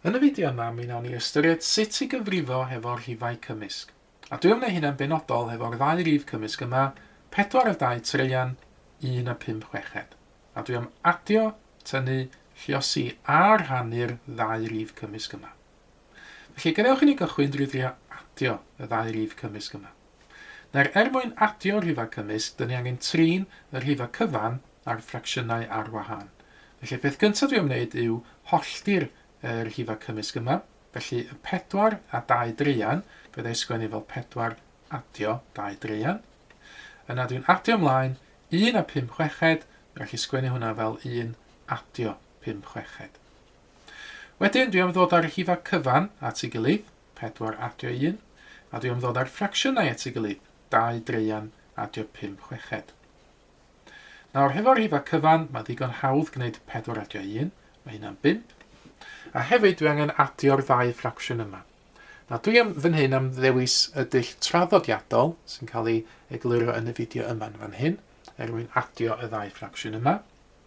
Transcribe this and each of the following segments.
Yn y fideo yma mi nawn ni ystyried sut i gyfrifo hefo rhifau cymysg. A dwi am neu hynna'n benodol hefo'r ddau rif cymysg yma, pedwar a dau traean, un a pump chweched. A dwi am adio, tynnu, lliosi a rhannu'r ddau rif cymysg yma. Felly gadewch i ni gychwyn drwy drio adio y ddau rif cymysg yma. Nawr, er mwyn adio rhifau cymysg, dyn ni angen trin y rhifau cyfan a'r ffracsiynau ar wahân. Felly, y peth gyntaf dwi am wneud yw hollti'r y rhifau cymysg yma. Felly, y pedwar a dau draean, fydda i sgwennu fel pedwar adio dau draean. Yna dwi'n adio ymlaen, un a pum chweched, rhaid i sgwennu hwnna fel un adio pum chweched. Wedyn, dwi am ddod â'r rhifau cyfan at ei gilydd, 4 adio 1, adio yn ddod â'r ffracsiynau at ei gilydd, 2 draean adio 5 chweched. Nawr, hefo'r rhifau cyfan, mae ddigon hawdd gwneud 4 adio 1, mae hynna'n 5. A hefyd, dwi angen adio'r ddau ffracsiwn yma. Nawr, dwi am fan hyn am ddewis y dull traddodiadol sy'n cael ei egluro yn y fideo yma'n fan hyn, er mwyn adio y ddau ffracsiwn yma.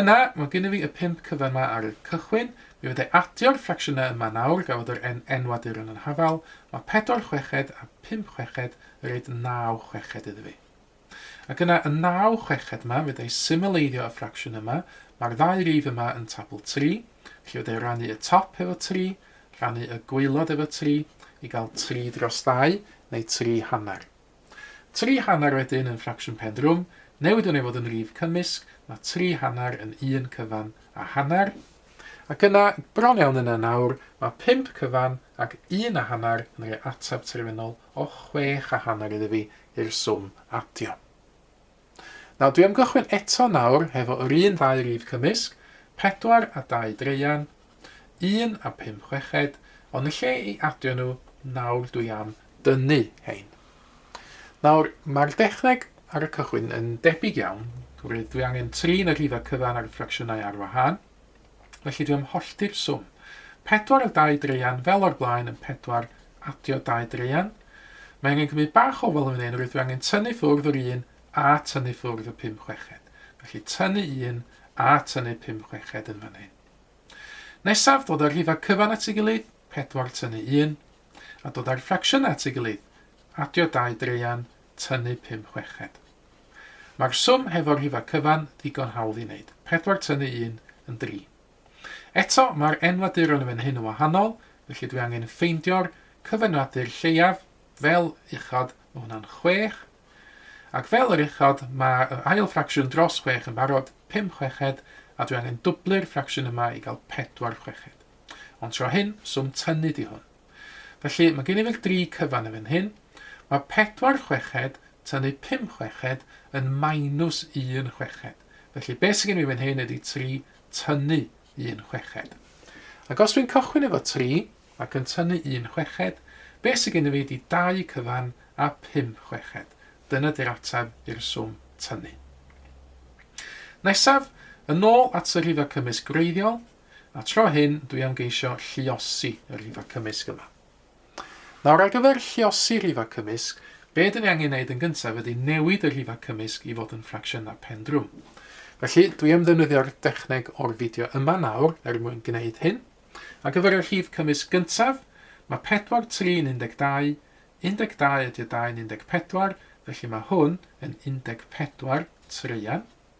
Yna, mae gynno fi y pump cyfan 'ma ar y cychwyn. Mi fydda i adio'r ffracsiynau yma nawr, gafodd yr N enw a duron yn hafal. Mae pedwar chweched a phump chweched yn rhoid naw chweched iddo fi. Ac yna, y naw chweched 'ma, fydda i symleiddio y ffracsiwn yma, mae'r ddau rif yma yn tabl tri, felly fydda i rannu y top efo tri, rhannu y gwaelod efo tri, i gael tri dros ddau, neu tri hanner. Tri hanner wedyn yn ffracsiwn pen drwm, newid hwn i fod yn rif cymysg, mae tri hanner yn un cyfan a hanner. Ac yna, bron iawn yna nawr, mae pump cyfan ac un a hanner yn rhoi ateb terfynol o chwech a hanner iddi fi i'r swm adio. Nawr, dwi am gychwyn eto nawr hefo yr un ddau rif cymysg, pedwar a dau draean, un a pump chweched, ond yn lle i adio nhw, nawr dwi am dynnu hein. Nawr, mae'r dechneg ar y cychwyn yn debyg iawn, oherwydd dwi angen trin y rhifau cyfan a'r ffracsiynau ar wahân. Felly dwi am hollti'r swm. Pedwar o dau draean fel o'r blaen yn pedwar adio dau draean. Mae angen cymryd bach o ofal yn fan hyn, rydw i angen tynnu ffwrdd yr un a tynnu ffwrdd y pum chweched. Felly tynnu un a tynnu pum chweched yn fan hyn. Nesaf, dod â'r rhifau cyfan at ei gilydd, pedwar tynnu un, a dod â'r ffracsiynau at ei gilydd, adio dau draean, tynnu pum chweched. Mae'r swm hefo'r rhifau cyfan ddigon hawdd i wneud, pedwar tynnu un yn dri. Eto, mae'r enwaduron yn fan hyn yn wahanol, felly dwi angen ffeindio'r cyfenwadur lleiaf, fel uchod, mae hwnna'n chwech, ac fel yr uchod, mae yr ail ffracsiwn dros chwech yn barod, pum chweched, a dwi angen dwblu'r ffracsiwn yma i gael pedwar chweched. Ond tro hyn, swm tynnu di hwn. Felly, mae gen i fel dri cyfan yn fan hyn. Mae pedwar chweched tynnu pum chweched yn minus un chweched. Felly, beth sydd gen i fan hyn ydy tri tynnu un chweched. Ac os dwi'n cychwyn efo tri ac yn tynnu un chweched, beth sydd gen i fi ydy dau cyfan a pum chweched. Dyna di'r ateb i'r swm tynnu. Nesaf, yn ôl at y rhifau cymysg gwreiddiol, A tro hyn, dwi am geisio lluosi y rhifau cymysg yma. Nawr, ar gyfer lluosi rhifau cymysg, be dyn ni angen neud yn gyntaf ydy newid y rhifau cymysg i fod yn ffracsiynau pen drwm. Felly, dwi am ddefnyddio'r dechneg o'r fideo yma nawr er mwyn gwneud hyn. Ar gyfer y rhif cymysg gyntaf, mae 4, 3 yn 12, 12 ydy a 2 yn 14, felly mae hwn yn 14 traean.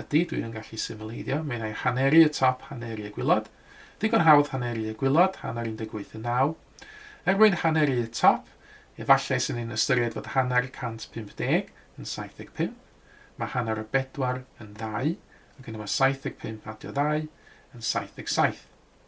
Ydy, dwi yn gallu simileiddio. Mae yna haneri y top, haneri y gwilod. Digon hawdd haneri y gwilod, hanner 18 yn 9. Er mwyn haneri y top, efallai sy'n ni'n ystyried fod hanner 150 yn 75. Mae hanner o bedwar yn ddau, ac yna mae 75 adio ddau yn 77.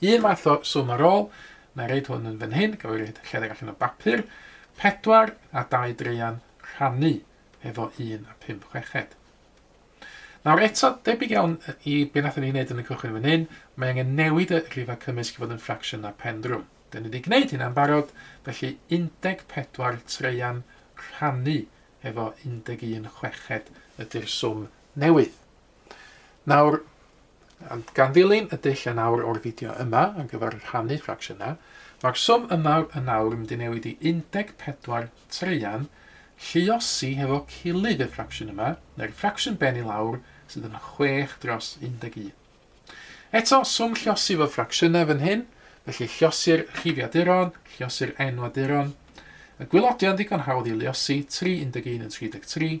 Un math o swm ar ôl, na i roid hwn yn fan hyn, gaf i roid lledr allan o bapur, 4 a 2 dreian rhannu efo 1 a 5 chweched. Nawr eto, debyg iawn i be nathon ni wneud yn y cychwyn fan hyn, mae angen newid y rhifau cymysg i fod yn ffracsiwn na pendrwm. Dyn ni wedi gwneud hynna'n barod, felly 14 treian rhannu efo 11 chweched ydy'r swm newydd. Nawr, gan ddilyn y dull yn awr o'r fideo yma ar gyfer rhannu ffracsiynau, mae'r swm yma yn awr yn mynd i newid i 14 traean lluosi hefo cilydd y ffracsiwn yma, neu'r ffracsiwn ben i lawr sydd yn 6 dros 11. Eto, swm lluosi fo ffracsiynau fan hyn, felly lluosi'r rhifiaduron, lluosi'r enwaduron, y gwylodion ddigon hawdd i luosi, 3 11 yn 33,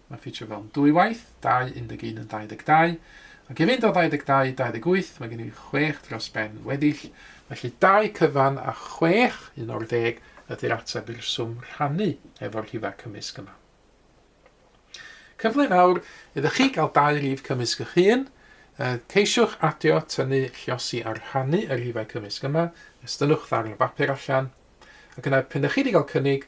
Mae'n ffitio fewn dwy waith, 2, 11 yn 22. Ac i fynd o 22 i 28, mae gen i 6 dros ben weddill. Felly 2 cyfan a 6, un o'r ddeg, ydy'r ateb i'r swm rhannu efo'r rhifau cymysg yma. Cyfle fawr iddo chi gael dau rif cymysg eich hun. Ceisiwch adio, tynnu, lliosi a rhannu y rhifau cymysg yma. Estynnwch ddarn o bapur allan. Ac yna, pen ydych chi wedi cael cynnig,